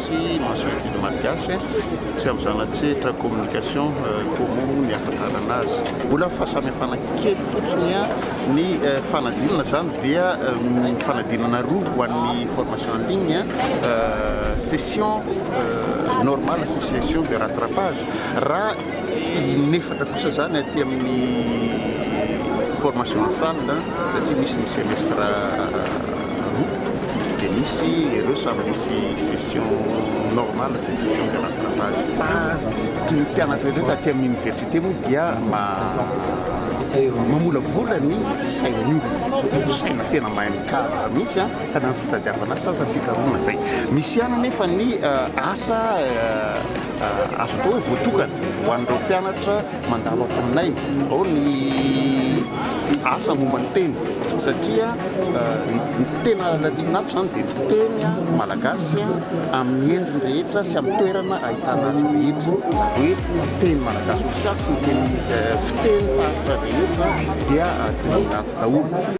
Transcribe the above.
Tsy mahasoa ny didy malgache, tsy amin'ny zana-tsehatra communication komomo ny ahafantarana azy. Mbola fahasamihafana kely fotsiny ny fanadinana, izany dia fanadinana roa ho an'ny formation en ligne, session normale sy session de rattrapage. Inefatra kosa izany aty amin'ny formation en salle satria misy ny semestre roa dia misy ireo samy misy session normale sy session de rattrapage. Ny mpianatra ireo taty amin'ny université moa dia mamolavola ny sain'ny olona, saina tena mahay mikaroka mihitsy ka na ny fitadiavana asa aza fikarohana izay. Misy ihany anefa ny asa Azo atao hoe voatokana ho an'ireo mpianatra mandalo ankohon'aina ao ny asa momba ny teny satria ny tena tian'ato izany dia ny teny malagasy amin'ny endriny rehetra sy amin'ny toerana ahitana azy rehetra, izany hoe ny teny malagasy ofisialy sy ny teny fitenim-paritra rehetra dia dinihin'ato daholo.